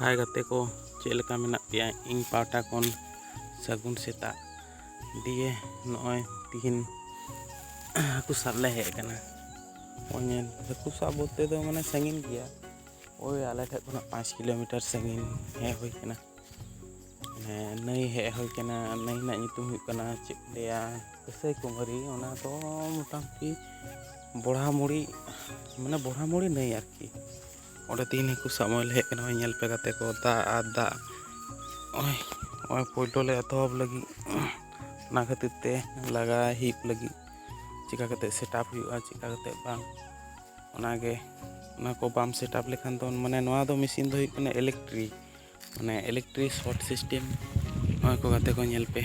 ᱦᱟᱭ ᱜᱟᱛᱮ ᱠᱚ ᱪᱮᱫ ᱞᱮᱠᱟ ᱢᱮᱱᱟᱜ ᱯᱮᱭᱟ ᱤᱧ ᱯᱟᱦᱴᱟ ᱠᱷᱚᱱ ᱥᱟᱹᱜᱩᱱ ᱥᱮᱛᱟᱜ ᱫᱤᱭᱮ ᱱᱚᱜᱼᱚᱭ ᱛᱤᱦᱤᱧ ᱦᱟᱹᱠᱩ ᱥᱟᱵ ᱞᱮ ᱦᱮᱡ ᱟᱠᱟᱱᱟ ᱱᱚᱜᱼᱚᱭ ᱧᱮᱞ ᱦᱟᱹᱠᱩ ᱥᱟᱵ ᱵᱚᱞᱛᱮ ᱫᱚ ᱢᱟᱱᱮ ᱥᱟᱺᱜᱤᱧ ᱜᱮᱭᱟ ᱳᱭ ᱟᱞᱮ ᱴᱷᱮᱡ ᱠᱷᱚᱱᱟᱜ ᱯᱟᱸᱪ ᱠᱤᱞᱳᱢᱤᱴᱟᱨ ᱥᱟᱺᱜᱤᱧ ᱦᱮᱡ ᱦᱩᱭ ᱟᱠᱟᱱᱟ ᱦᱮᱸ ᱱᱟᱹᱭ ᱦᱮᱡ ᱦᱩᱭ ᱠᱟᱱᱟ ᱱᱟᱹᱭ ᱨᱮᱱᱟᱜ ᱧᱩᱛᱩᱢ ᱦᱩᱭᱩᱜ ᱠᱟᱱᱟ ᱪᱮᱫ ᱠᱚ ᱞᱟᱹᱭᱟ ᱠᱟᱹᱥᱟᱹᱭ ᱠᱩᱢᱟᱹᱨᱤ ᱚᱱᱟ ᱫᱚ ᱢᱚᱴᱟᱢᱩᱴᱤ ᱵᱚᱲᱦᱟ ᱢᱩᱲᱤ ᱢᱟᱱᱮ ᱵᱚᱲᱦᱟ ᱢᱩᱲᱤ ᱱᱟᱹᱭ ᱟᱨᱠᱤ ᱚᱸᱰᱮ ᱛᱤᱦᱤᱧ ᱦᱟᱹᱠᱩ ᱥᱟᱵ ᱦᱚᱸ ᱞᱮ ᱦᱮᱡ ᱠᱟᱱᱟ ᱦᱚᱸᱜᱼᱚᱭ ᱧᱮᱞ ᱯᱮ ᱜᱟᱛᱮ ᱠᱚ ᱫᱟᱜ ᱟᱨ ᱫᱟᱜ ᱦᱚᱸᱜᱼᱚᱭ ᱦᱚᱸᱜᱼᱚᱭ ᱯᱳᱭᱞᱳ ᱞᱮ ᱮᱛᱚᱦᱚᱵ ᱞᱟᱹᱜᱤᱫ ᱚᱱᱟ ᱠᱷᱟᱹᱛᱤᱨ ᱛᱮ ᱞᱟᱜᱟ ᱦᱤᱯ ᱞᱟᱹᱜᱤᱫ ᱪᱮᱠᱟ ᱠᱟᱛᱮ ᱥᱮᱴᱟᱯ ᱦᱩᱭᱩᱜᱼᱟ ᱪᱮᱠᱟ ᱠᱟᱛᱮ ᱵᱟᱝ ᱚᱱᱟᱜᱮ ᱚᱱᱟ ᱠᱚ ᱵᱟᱢ ᱥᱮᱴᱟᱯ ᱞᱮᱠᱷᱟᱱ ᱫᱚ ᱢᱟᱱᱮ ᱱᱚᱣᱟ ᱫᱚ ᱢᱮᱥᱤᱱ ᱫᱚ ᱦᱩᱭᱩᱜ ᱠᱟᱱᱟ ᱤᱞᱮᱠᱴᱨᱤᱠ ᱢᱟᱱᱮ ᱤᱞᱮᱠᱴᱨᱤᱠ ᱥᱚᱨᱴ ᱥᱤᱥᱴᱮᱢ ᱱᱚᱣᱟ ᱠᱚ ᱜᱟᱛᱮ ᱠᱚ ᱧᱮᱞ ᱯᱮ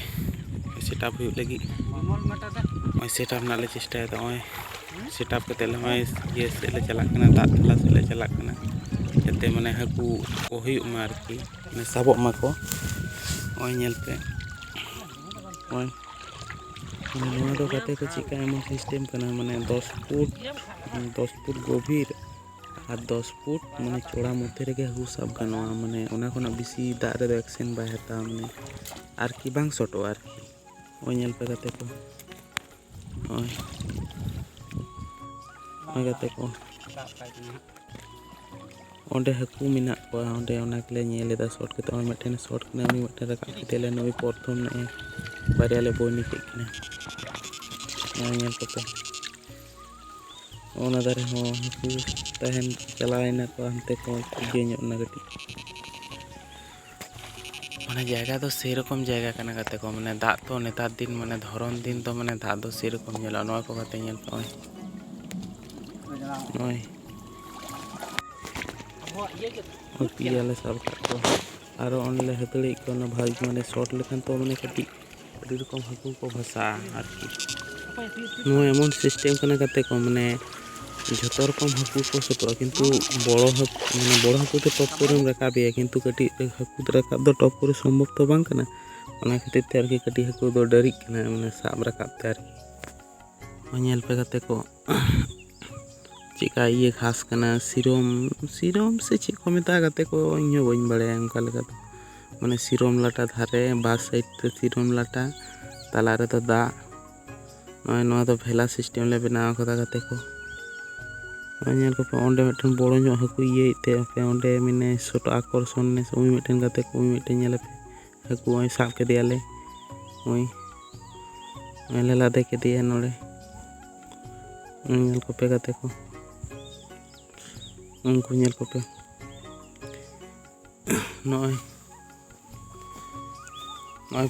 ᱥᱮᱴᱟᱯ ᱦᱩᱭᱩᱜ ᱞᱟᱹᱜᱤᱫ ᱱᱚᱜᱼᱚᱭ ᱥᱮᱴᱟᱯ ᱨᱮᱱᱟᱜ ᱞᱮ ᱪᱮᱥᱴᱟᱭᱮᱫᱟ ᱱᱚᱜᱼᱚᱭ ᱥᱮᱴᱟᱯ ᱠᱟᱛᱮᱫ ᱱᱚᱜᱼᱚᱭ ᱤᱭᱟᱹ ᱥᱮᱫ ᱞᱮ ᱪᱟᱞᱟᱜ ᱠᱟᱱᱟ ᱫᱟᱜ ᱛᱟᱞᱟ ᱥᱮᱫ ᱞᱮ ᱪᱟᱞᱟᱜ ᱠᱟᱱᱟ ᱡᱟᱛᱮ ᱢᱟᱱᱮ ᱦᱟᱹᱠᱩ ᱠᱚ ᱦᱩᱭᱩᱜ ᱢᱟ ᱟᱨᱠᱤ ᱢᱟᱱᱮ ᱥᱟᱵᱚᱜ ᱢᱟᱠᱚ ᱱᱚᱜᱼᱚᱭ ᱧᱮᱞ ᱯᱮ ᱱᱚᱜᱼᱚᱭ ᱱᱚᱣᱟ ᱫᱚ ᱜᱟᱛᱮ ᱠᱚ ᱪᱮᱫᱠᱟ ᱮᱢᱚᱱ ᱥᱤᱥᱴᱮᱢ ᱠᱟᱱᱟ ᱢᱟᱱᱮ ᱫᱚᱥ ᱯᱷᱩᱴ ᱫᱚᱥ ᱯᱷᱩᱴ ᱜᱚᱵᱷᱤᱨ ᱟᱨ ᱫᱚᱥ ᱯᱷᱩᱴ ᱢᱟᱱᱮ ᱪᱚᱲᱟ ᱢᱚᱫᱽᱫᱷᱮ ᱨᱮᱜᱮ ᱦᱟᱹᱠᱩ ᱥᱟᱵ ᱜᱟᱱᱚᱜᱼᱟ ᱢᱟᱱᱮ ᱚᱱᱟ ᱠᱷᱚᱱᱟᱜ ᱵᱮᱥᱤ ᱫᱟᱜ ᱨᱮᱫᱚ ᱮᱠᱥᱮᱱ ᱵᱟᱭ ᱦᱟᱛᱟᱣᱟ ᱢᱟᱱᱮ ᱟᱨᱠᱤ ᱵᱟᱝ ᱥᱚᱴᱚᱜᱼᱟ ᱟᱨᱠᱤ ᱱᱚᱜᱼᱚᱭ ᱧᱮᱞ ᱯᱮ ᱜᱟᱛᱮ ᱠᱚ ᱱᱚᱜᱼᱚᱭ ᱱᱚᱜᱼᱚᱭ ᱜᱟᱛᱮ ᱠᱚ ᱚᱸᱰᱮ ᱦᱟᱹᱠᱩ ᱢᱮᱱᱟᱜ ᱠᱚᱣᱟ ᱚᱸᱰᱮ ᱚᱱᱟ ᱜᱮᱞᱮ ᱧᱮᱞ ᱮᱫᱟ ᱥᱚᱴ ᱠᱟᱛᱮ ᱱᱚᱜᱼᱚᱭ ᱢᱤᱫᱴᱮᱱ ᱥᱚᱴ ᱠᱟᱱᱟ ᱩᱱᱤ ᱢᱤᱫᱴᱮᱱ ᱨᱟᱠᱟᱵ ᱠᱮᱫᱮᱭᱟᱞᱮ ᱱᱩᱭ ᱯᱨᱚᱛᱷᱚᱢ ᱱᱚᱜᱼᱚᱭ ᱵᱟᱨᱭᱟ ᱞᱮ ᱵᱳᱭᱱᱤ ᱠᱮᱫ ᱠᱤᱱᱟ ᱱᱚᱜᱼᱚᱭ ᱧᱮᱞ ᱠᱚᱯᱮ ᱚᱱᱟ ᱫᱟᱨᱮ ᱦᱚᱸ ᱦᱟᱹᱠᱩ ᱛᱟᱦᱮᱱ ᱪᱟᱞᱟᱣᱮᱱᱟ ᱠᱚ ᱦᱟᱱᱛᱮ ᱠᱚ ᱤᱭᱟᱹ ᱧᱚᱜ ᱮᱱᱟ ᱠᱟᱹᱴᱤᱡ ᱢᱟᱱᱮ ᱡᱟᱭᱜᱟ ᱫᱚ ᱥᱮᱨᱚᱠᱚᱢ ᱡᱟᱭᱜᱟ ᱠᱟᱱᱟ ᱜᱟᱛᱮ ᱠᱚ ᱢᱟᱱᱮ ᱫᱟᱜ ᱛᱚ ᱱᱮᱛᱟᱨ ᱫᱤᱱ ᱢᱟᱱᱮ ᱫᱷᱚᱨᱚᱱ ᱫᱤᱱ ᱫᱚ ᱢᱟᱱᱮ ᱫᱟᱜ ᱫᱚ ᱥᱮᱨᱚᱠᱚᱢ ᱧᱮᱞᱚᱜᱼᱟ ᱱᱚᱣᱟ ᱠᱚ ᱜᱟᱛᱮ ᱧᱮᱞ ᱯᱮ ᱱᱚᱜᱼᱚᱭ ᱯᱮᱭᱟᱞᱮ ᱥᱟᱵ ᱠᱟᱜ ᱠᱚᱣᱟ ᱟᱨᱚ ᱚᱸᱰᱮᱞᱮ ᱦᱟᱹᱛᱟᱹᱲᱤᱭᱮᱫ ᱠᱚᱣᱟ ᱚᱱᱟ ᱵᱷᱟᱹᱜᱤ ᱢᱟᱱᱮ ᱥᱚᱴ ᱞᱮᱠᱷᱟᱱ ᱛᱚ ᱢᱟᱱᱮ ᱠᱟᱹᱴᱤᱡ ᱟᱹᱰᱤ ᱨᱚᱠᱚᱢ ᱦᱟᱹᱠᱩ ᱠᱚ ᱵᱷᱟᱥᱟᱜᱼᱟ ᱟᱨᱠᱤ ᱱᱚᱣᱟ ᱮᱢᱚᱱ ᱥᱤᱥᱴᱮᱢ ᱠᱟᱱᱟ ᱜᱟᱛᱮ ᱠᱚ ᱢᱟᱱᱮ ᱡᱷᱚᱛᱚ ᱨᱚᱠᱚᱢ ᱦᱟᱹᱠᱩ ᱠᱚ ᱥᱟᱹᱛᱚᱜᱼᱟ ᱠᱤᱱᱛᱩ ᱵᱚᱲᱚ ᱦᱟᱹᱠᱩ ᱢᱟᱱᱮ ᱵᱚᱲᱚ ᱦᱟᱹᱠᱩ ᱫᱚ ᱴᱚᱯ ᱠᱚᱨᱮᱢ ᱨᱟᱠᱟᱵᱮᱭᱟ ᱠᱤᱱᱛᱩ ᱠᱟᱹᱴᱤᱡ ᱦᱟᱹᱠᱩ ᱫᱚ ᱨᱟᱠᱟᱵ ᱫᱚ ᱴᱚᱯ ᱠᱚᱨᱮ ᱥᱚᱢᱵᱷᱚᱵ ᱛᱚ ᱵᱟᱝ ᱠᱟᱱᱟ ᱚᱱᱟ ᱠᱷᱟᱹᱛᱤᱨ ᱛᱮ ᱟᱨᱠᱤ ᱠᱟᱹᱴᱤᱡ ᱦᱟᱹᱠᱩ ᱫᱚ ᱰᱟᱹᱨᱤᱜ ᱠᱟᱱᱟ ᱢᱟᱱᱮ ᱥᱟᱵ ᱨᱟᱠᱟᱵ ᱛᱮ ᱟᱨᱠᱤ ᱧᱮᱞ ᱯᱮ ᱜᱟᱛᱮ ᱠᱚ ᱪᱮᱫᱠᱟ ᱤᱭᱟᱹ ᱜᱷᱟᱥ ᱠᱟᱱᱟ ᱥᱤᱨᱚᱢ ᱥᱤᱨᱚᱢ ᱥᱮ ᱪᱮᱫ ᱠᱚ ᱢᱮᱛᱟᱜᱼᱟ ᱜᱟᱛᱮ ᱠᱚ ᱤᱧ ᱦᱚᱸ ᱵᱟᱹᱧ ᱵᱟᱲᱟᱭᱟ ᱚᱱᱠᱟ ᱞᱮᱠᱟ ᱫᱚ ᱢᱟᱱᱮ ᱥᱤᱨᱚᱢ ᱞᱟᱴᱟ ᱫᱷᱟᱨᱮ ᱵᱟᱨ ᱥᱟᱭᱤᱰ ᱛᱮ ᱥᱤᱨᱚᱢ ᱞᱟᱴᱟ ᱛᱟᱞᱟ ᱨᱮᱫᱚ ᱫᱟᱜ ᱱᱚᱜᱼᱚᱭ ᱱᱚᱣᱟ ᱫᱚ ᱵᱷᱮᱞᱟ ᱥᱤᱥᱴᱮᱢ ᱞᱮ ᱵᱮᱱᱟᱣ ᱟᱠᱟᱫᱟ ᱜᱟᱛᱮ ᱠᱚ ᱱᱚᱜᱼᱚᱭ ᱧᱮᱞ ᱠᱚᱯᱮ ᱚᱸᱰᱮ ᱢᱤᱫᱴᱮᱱ ᱵᱚᱲᱚ ᱧᱚᱜ ᱦᱟᱹᱠᱩ ᱤᱭᱟᱹᱭᱮᱫ ᱛᱮ ᱟᱯᱮ ᱚᱸᱰᱮ ᱢᱟᱱᱮ ᱥᱚᱴ ᱟᱠᱚᱨᱥᱚᱱ ᱩᱱᱤ ᱢᱤᱫᱴᱮᱱ ᱜᱟᱛᱮ ᱠᱚ ᱩᱱᱤ ᱢᱤᱫᱴᱮᱱ ᱧᱮᱞᱮᱯᱮ ᱦᱟᱹᱠᱩ ᱦᱚᱸᱭ ᱥᱟᱵ ᱠᱮᱫᱮᱭᱟᱞᱮ ᱱᱚᱜᱼᱚᱭ ᱱᱚᱜᱼᱚᱭ ᱞᱮ ᱞᱟᱫᱮ ᱠᱮᱫᱮᱭᱟ ᱱᱚᱰᱮ ᱧᱮᱞ ᱠᱚᱯᱮ ᱜᱟᱛᱮ ᱠᱚ ᱩᱱᱠᱩ ᱧᱮᱞ ᱠᱚᱯᱮ ᱱᱚᱜᱼᱚᱭ ᱱᱚᱜᱼᱚᱭ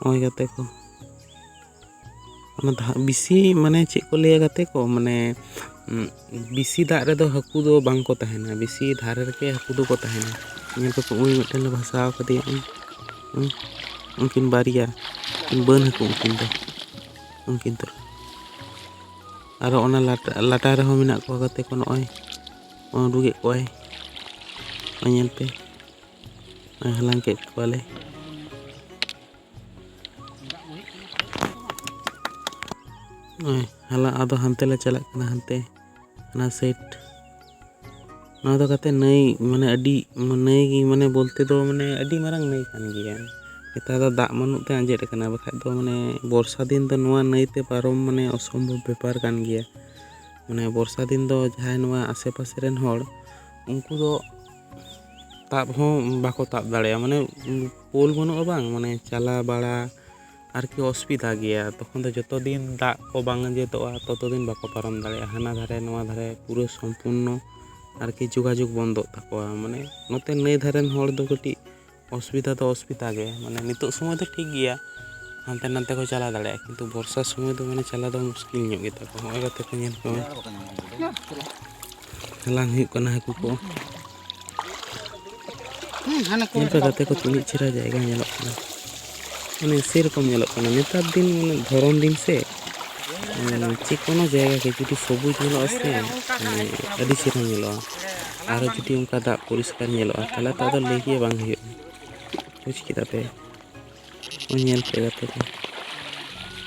ᱱᱚᱜᱼᱚᱭ ᱜᱟᱛᱮ ᱠᱚ ᱚᱱᱟ ᱫᱟᱜ ᱵᱮᱥᱤ ᱢᱟᱱᱮ ᱪᱮᱫ ᱠᱚ ᱞᱟᱹᱭᱟ ᱜᱟᱛᱮ ᱠᱚ ᱢᱟᱱᱮ ᱵᱮᱥᱤ ᱫᱟᱜ ᱨᱮᱫᱚ ᱦᱟᱹᱠᱩ ᱫᱚ ᱵᱟᱝ ᱠᱚ ᱛᱟᱦᱮᱱᱟ ᱵᱮᱥᱤ ᱫᱷᱟᱨᱮ ᱨᱮᱜᱮ ᱦᱟᱹᱠᱩ ᱫᱚᱠᱚ ᱛᱟᱦᱮᱱᱟ ᱧᱮᱞ ᱠᱚᱠᱚ ᱩᱱᱤ ᱢᱤᱫᱴᱮᱱ ᱞᱮ ᱵᱷᱟᱥᱟᱣ ᱠᱟᱫᱮᱭᱟ ᱩᱱᱠᱤᱱ ᱵᱟᱨᱭᱟ ᱩᱱᱠᱤᱱ ᱵᱟᱹᱱ ᱦᱟᱹᱠᱩ ᱩᱱᱠᱤᱱ ᱫᱚ ᱩᱱᱠᱤᱱ ᱫᱚ ᱟᱨᱚ ᱚᱱᱟ ᱞᱟᱴᱟ ᱞᱟᱴᱟ ᱨᱮᱦᱚᱸ ᱢᱮᱱᱟᱜ ᱠᱚᱣᱟ ᱜᱟᱛᱮ ᱠᱚ ᱱᱚᱜᱼᱚᱭ ᱩᱰᱩᱠᱮᱫ ᱠᱚᱣᱟᱭ ᱧᱮᱞ ᱯᱮ ᱦᱟᱞᱟᱝ ᱠᱮᱫ ᱠᱚᱣᱟᱞᱮ ᱱᱚᱜᱼᱚᱭ ᱦᱟᱞᱟᱝ ᱟᱫᱚ ᱦᱟᱱᱛᱮ ᱞᱮ ᱪᱟᱞᱟᱜ ᱠᱟᱱᱟ ᱦᱟᱱᱛᱮ ᱚᱱᱟ ᱥᱟᱭᱤᱰ ᱱᱚᱣᱟ ᱫᱚ ᱠᱟᱛᱮ ᱱᱟᱹᱭ ᱢᱟᱱᱮ ᱟᱹᱰᱤ ᱱᱟᱹᱭ ᱜᱮ ᱢᱟᱱᱮ ᱵᱚᱞᱛᱮ ᱫᱚ ᱢᱟᱱᱮ ᱟᱹᱰᱤ ᱢᱟᱨᱟᱝ ᱱᱟᱹᱭ ᱠᱟᱱ ᱜᱮᱭᱟ ᱱᱮᱛᱟᱨ ᱫᱚ ᱫᱟᱜ ᱵᱟᱹᱱᱩᱜ ᱛᱮ ᱟᱸᱡᱮᱫ ᱟᱠᱟᱱᱟ ᱵᱟᱠᱷᱟᱡ ᱫᱚ ᱢᱟᱱᱮ ᱵᱚᱨᱥᱟ ᱫᱤᱱ ᱫᱚ ᱱᱚᱣᱟ ᱱᱟᱹᱭ ᱛᱮ ᱯᱟᱨᱚᱢ ᱢᱟᱱᱮ ᱚᱥᱚᱢᱵᱷᱚᱵ ᱵᱮᱯᱟᱨ ᱠᱟᱱ ᱜᱮᱭᱟ ᱢᱟᱱᱮ ᱵᱚᱨᱥᱟ ᱫᱤᱱ ᱫᱚ ᱡᱟᱦᱟᱸᱭ ᱱᱚᱣᱟ ᱟᱥᱮ ᱯᱟᱥᱮ ᱨᱮᱱ ᱦᱚᱲ ᱩᱱᱠᱩ ᱫᱚ ᱛᱟᱵ ᱦᱚᱸ ᱵᱟᱠᱚ ᱛᱟᱵ ᱫᱟᱲᱮᱭᱟᱜᱼᱟ ᱢᱟᱱᱮ ᱯᱳᱞ ᱵᱟᱹᱱᱩᱜᱼᱟ ᱵᱟᱝ ᱢᱟᱱᱮ ᱪᱟᱞᱟᱣ ᱵᱟᱲᱟ ᱟᱨᱠᱤ ᱚᱥᱩᱵᱤᱫᱷᱟ ᱜᱮᱭᱟ ᱛᱚᱠᱷᱚᱱ ᱫᱚ ᱡᱚᱛᱚ ᱫᱤᱱ ᱫᱟᱜ ᱠᱚ ᱵᱟᱝ ᱟᱸᱡᱮᱫᱚᱜᱼᱟ ᱛᱚᱛᱚ ᱫᱤᱱ ᱵᱟᱠᱚ ᱯᱟᱨᱚᱢ ᱫᱟᱲᱮᱭᱟᱜᱼᱟ ᱦᱟᱱᱟ ᱫᱷᱟᱨᱮ ᱱᱚᱣᱟ ᱫᱷᱟᱨᱮ ᱯᱩᱨᱟᱹ ᱥᱚᱢᱯᱩᱨᱱᱚ ᱟᱨᱠᱤ ᱡᱳᱜᱟᱡᱳᱜᱽ ᱵᱚᱱᱫᱚᱜ ᱛᱟᱠᱚᱣᱟ ᱢᱟᱱᱮ ᱱᱚᱛᱮ ᱱᱟᱹᱭ ᱫᱷᱟᱨᱮ ᱨᱮᱱ ᱦᱚᱲ ᱫᱚ ᱠᱟᱹᱴᱤᱡ ᱚᱥᱩᱵᱤᱫᱷᱟ ᱫᱚ ᱚᱥᱩᱵᱤᱫᱷᱟ ᱜᱮ ᱢᱟᱱᱮ ᱱᱤᱛᱚᱜ ᱥᱚᱢᱚᱭ ᱫᱚ ᱴᱷᱤᱠ ᱜᱮᱭᱟ ᱦᱟᱱᱛᱮ ᱱᱟᱛᱮ ᱠᱚ ᱪᱟᱞᱟᱣ ᱫᱟᱲᱮᱭᱟᱜᱼᱟ ᱠᱤᱱᱛᱩ ᱵᱚᱨᱥᱟ ᱥᱚᱢᱚᱭ ᱫᱚ ᱢᱟᱱᱮ ᱪᱟᱞᱟᱣ ᱫᱚ ᱢᱩᱥᱠᱤᱞ ᱧᱚᱜ ᱜᱮᱛᱟ ᱠᱚᱣᱟ ᱱᱚᱜᱼᱚᱭ ᱜᱟᱛᱮ ᱠᱚ ᱧᱮᱞ ᱠᱚᱢᱮ ᱦᱟᱞᱟᱝ ᱦᱩᱭᱩᱜ ᱠᱟᱱᱟ ᱦᱟᱹᱠᱩ ᱠᱚ ᱧᱮᱞ ᱯᱮ ᱜᱟᱛᱮ ᱠᱚ ᱛᱤᱱᱟᱹᱜ ᱪᱮᱦᱨᱟ ᱡᱟᱭᱜᱟ ᱧᱮᱞᱚᱜ ᱠᱟᱱᱟ ᱢᱟᱱᱮ ᱥᱮᱨᱚᱠᱚᱢ ᱧᱮᱞᱚᱜ ᱠᱟᱱᱟ ᱱᱮᱛᱟᱨ ᱫᱤᱱ ᱢᱟᱱᱮ ᱫᱷᱚᱨᱚᱢ ᱫᱤᱱ ᱥᱮ ᱡᱮ ᱠᱳᱱᱳ ᱡᱟᱭᱜᱟ ᱜᱮ ᱡᱩᱫᱤ ᱥᱚᱵᱩᱡᱽ ᱧᱮᱞᱚᱜᱼᱟ ᱥᱮ ᱢᱟᱱᱮ ᱟᱹᱰᱤ ᱪᱮᱦᱨᱟ ᱧᱮᱞᱚᱜᱼᱟ ᱟᱨᱚ ᱡᱩᱫᱤ ᱚᱱᱠᱟ ᱫᱟᱜ ᱯᱚᱨᱤᱥᱠᱟᱨ ᱧᱮᱞᱚᱜᱼᱟ ᱛᱟᱦᱚᱞᱮ ᱛᱚ ᱟᱫᱚ ᱞᱟᱹᱭ ᱜᱮ ᱵᱟᱝ ᱦᱩᱭᱩᱜᱼᱟ ᱵᱩᱡᱽ ᱠᱮᱫᱟ ᱯᱮ ᱧᱮᱞ ᱯᱮ ᱜᱟᱛᱮ ᱠᱚ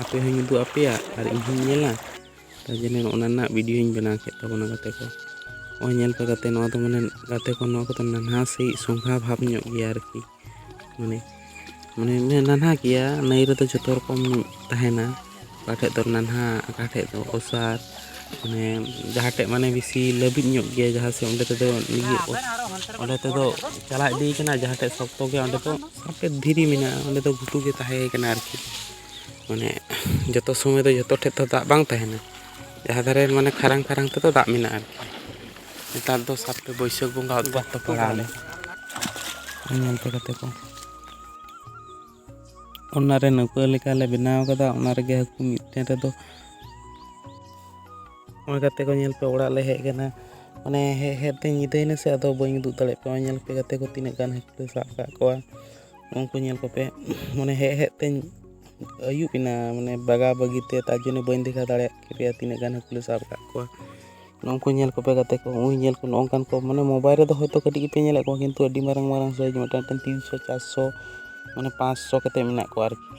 ᱟᱯᱮ ᱦᱚᱸᱧ ᱩᱫᱩᱜ ᱟᱯᱮᱭᱟ ᱟᱨ ᱤᱧ ᱦᱚᱸᱧ ᱧᱮᱞᱟ ᱛᱟᱨ ᱡᱚᱱᱱᱚ ᱱᱚᱜᱼᱚ ᱱᱟ ᱨᱮᱱᱟᱜ ᱵᱷᱤᱰᱤᱭᱳᱧ ᱵᱮᱱᱟᱣ ᱠᱮᱫ ᱛᱟᱵᱚᱱᱟ ᱜᱟᱛᱮ ᱠᱚ ᱱᱚᱜᱼᱚᱭ ᱧᱮᱞ ᱯᱮ ᱜᱟᱛᱮ ᱱᱚᱣᱟ ᱫᱚ ᱢᱟᱱᱮ ᱜᱟᱛᱮ ᱠᱚ ᱱᱚᱣᱟ ᱠᱚᱫᱚ ᱱᱟᱱᱦᱟ ᱥᱟᱺᱦᱤᱡ ᱥᱚᱸᱜᱷᱟ ᱵᱷᱟᱵᱽ ᱧᱚᱜ ᱜᱮᱭᱟ ᱟᱨᱠᱤ ᱢᱟᱱᱮ ᱢᱟᱱᱮ ᱱᱟᱱᱦᱟ ᱜᱮᱭᱟ ᱱᱟᱹᱭ ᱨᱮᱫᱚ ᱡᱚᱛᱚ ᱨᱚᱠᱚᱢ ᱛᱟᱦᱮᱱᱟ ᱚᱠᱟ ᱴᱷᱮᱡ ᱫᱚ ᱱᱟᱱᱦᱟ ᱚᱠᱟ ᱴᱷᱮᱡ ᱫᱚ ᱚᱥᱟᱨ ᱢᱟᱱᱮ ᱡᱟᱦᱟᱸ ᱴᱷᱮᱡ ᱢᱟᱱᱮ ᱵᱮᱥᱤ ᱞᱟᱹᱵᱤᱫ ᱧᱚᱜ ᱜᱮᱭᱟ ᱡᱟᱦᱟᱸ ᱥᱮᱫ ᱚᱸᱰᱮ ᱛᱮᱫᱚ ᱱᱤᱡᱮ ᱚᱸᱰᱮ ᱛᱮᱫᱚ ᱪᱟᱞᱟᱣ ᱤᱫᱤᱭ ᱠᱟᱱᱟ ᱡᱟᱦᱟᱸ ᱴᱷᱮᱡ ᱥᱚᱠᱛᱚ ᱜᱮᱭᱟ ᱚᱸᱰᱮ ᱫᱚ ᱟᱯᱮ ᱫᱷᱤᱨᱤ ᱢᱮᱱᱟᱜᱼᱟ ᱚᱸᱰᱮ ᱫᱚ ᱜᱷᱩᱴᱩ ᱜᱮ ᱛᱟᱦᱮᱸ ᱠᱟᱱᱟ ᱟᱨᱠᱤ ᱢᱟᱱᱮ ᱡᱚᱛᱚ ᱥᱚᱢᱚᱭ ᱫᱚ ᱡᱚᱛᱚ ᱴᱷᱮᱡ ᱫᱚ ᱫᱟᱜ ᱵᱟᱝ ᱛᱟᱦᱮᱱᱟ ᱡᱟᱦᱟᱸ ᱫᱷᱟᱨᱮ ᱢᱟᱱᱮ ᱠᱷᱟᱨᱟᱝ ᱠᱷᱟᱨᱟᱝ ᱛᱮᱫᱚ ᱫᱟᱜ ᱢᱮᱱᱟᱜᱼᱟ ᱟᱨᱠᱤ ᱱᱮᱛᱟᱨ ᱫᱚ ᱥᱟᱵ ᱯᱮ ᱵᱟᱹᱭᱥᱟᱹᱠᱷ ᱵᱚᱸᱜᱟ ᱩᱫᱽᱜᱟᱛ ᱛᱚ ᱯᱟᱲᱟᱣ ᱞᱮᱱ ᱧᱮᱞ ᱯᱮ ᱠᱟᱛᱮ ᱠᱚ ᱚᱱᱟᱨᱮ ᱱᱟᱹᱣᱠᱟᱹ ᱞᱮᱠᱟᱞᱮ ᱵᱮᱱᱟᱣ ᱠᱟᱫᱟ ᱚᱱᱟ ᱨᱮᱜᱮ ᱦᱟᱹᱠᱩ ᱢᱤᱫᱴᱮᱱ ᱨᱮᱫᱚ ᱱᱚᱜᱼᱚᱭ ᱜᱟᱛᱮ ᱠᱚ ᱧᱮᱞ ᱯᱮ ᱚᱲᱟᱜ ᱞᱮ ᱦᱮᱡ ᱠᱟᱱᱟ ᱢᱟᱱᱮ ᱦᱮᱡ ᱦᱮᱡ ᱛᱮ ᱧᱤᱫᱟᱹᱭᱮᱱᱟ ᱥᱮ ᱟᱫᱚ ᱵᱟᱹᱧ ᱩᱫᱩᱜ ᱫᱟᱲᱮᱭᱟᱜ ᱯᱮᱭᱟ ᱧᱮᱞ ᱯᱮ ᱜᱟᱛᱮ ᱠᱚ ᱛᱤᱱᱟᱹᱜ ᱜᱟᱱ ᱦᱟᱹᱠᱩ ᱞᱮ ᱥᱟᱵ ᱠᱟᱜ ᱠᱚᱣᱟ ᱩᱱᱠᱩ ᱧᱮᱞ ᱠᱚᱯᱮ ᱢᱟᱱᱮ ᱦᱮᱡ ᱦᱮᱡ ᱛᱮᱧ ᱟᱹᱭᱩᱵ ᱮᱱᱟ ᱢᱟᱱᱮ ᱵᱟᱜᱟ ᱵᱟᱹᱜᱤ ᱛᱮ ᱛᱟᱨ ᱡᱚᱱᱱᱚ ᱵᱟᱹᱧ ᱫᱮᱠᱷᱟᱣ ᱫᱟᱲᱮᱭᱟᱜ ᱯᱮᱭᱟ ᱛᱤᱱᱟᱹᱜ ᱜᱟᱱ ᱦᱟᱹᱠᱩ ᱞᱮ ᱥᱟᱵ ᱠᱟᱜ ᱠᱚᱣᱟ ᱱᱩᱠᱩ ᱧᱮᱞ ᱠᱚᱯᱮ ᱜᱟᱛᱮ ᱠᱚ ᱩᱱᱤ ᱧᱮᱞ ᱠᱚ ᱱᱚᱝᱠᱟᱱ ᱠᱚ ᱢᱟᱱᱮ ᱢᱳᱵᱟᱭᱤᱞ ᱨᱮᱫᱚ ᱦᱚᱭᱛᱳ ᱠᱟᱹᱴᱤᱡ ᱜᱮᱯᱮ ᱧᱮᱞᱮᱫ ᱠᱚᱣᱟ ᱠᱤᱱᱛᱩ ᱟᱹᱰᱤ ᱢᱟᱨᱟᱝ ᱢᱟᱨᱟᱝ ᱥᱟᱭᱤᱡᱽ ᱢᱤᱫᱴᱟᱝ ᱢᱤᱫᱴᱟᱝ ᱛᱤᱱᱥᱚ ᱪᱟᱨᱥᱚ ᱢᱟᱱᱮ ᱯᱟᱸᱥᱥᱚ ᱠᱟᱛᱮᱫ ᱢᱮᱱᱟᱜ ᱠᱚᱣᱟ ᱟᱨᱠᱤ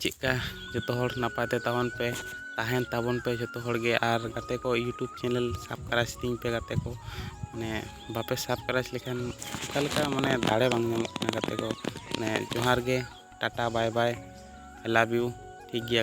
ᱪᱮᱫᱠᱟ ᱡᱚᱛᱚ ᱦᱚᱲ ᱱᱟᱯᱟᱭ ᱛᱮ ᱛᱟᱵᱚᱱ ᱯᱮ ᱛᱟᱦᱮᱱ ᱛᱟᱵᱚᱱ ᱯᱮ ᱡᱚᱛᱚ ᱦᱚᱲ ᱜᱮ ᱟᱨ ᱜᱟᱛᱮ ᱠᱚ ᱤᱭᱩᱴᱩᱵᱽ ᱪᱮᱱᱮᱞ ᱥᱟᱵᱽᱥᱠᱨᱟᱭᱤᱵᱽ ᱛᱤᱧ ᱯᱮ ᱜᱟᱛᱮ ᱠᱚ ᱢᱟᱱᱮ ᱵᱟᱯᱮ ᱥᱟᱵᱽᱥᱠᱨᱟᱭᱤᱵᱽ ᱞᱮᱠᱷᱟᱱ ᱚᱠᱟ ᱞᱮᱠᱟ ᱢᱟᱱᱮ ᱫᱟᱲᱮ ᱵᱟᱝ ᱧᱟᱢᱚᱜ ᱠᱟᱱᱟ ᱜᱟᱛᱮ ᱠᱚ ᱢᱟᱱᱮ ᱡᱚᱦᱟᱨ ᱜᱮ ᱴᱟᱴᱟ ᱵᱟᱭ ᱵᱟᱭ ᱟᱭ ᱞᱟᱵᱷ ᱤᱭᱩ ᱴᱷᱤᱠ ᱜᱮᱭᱟ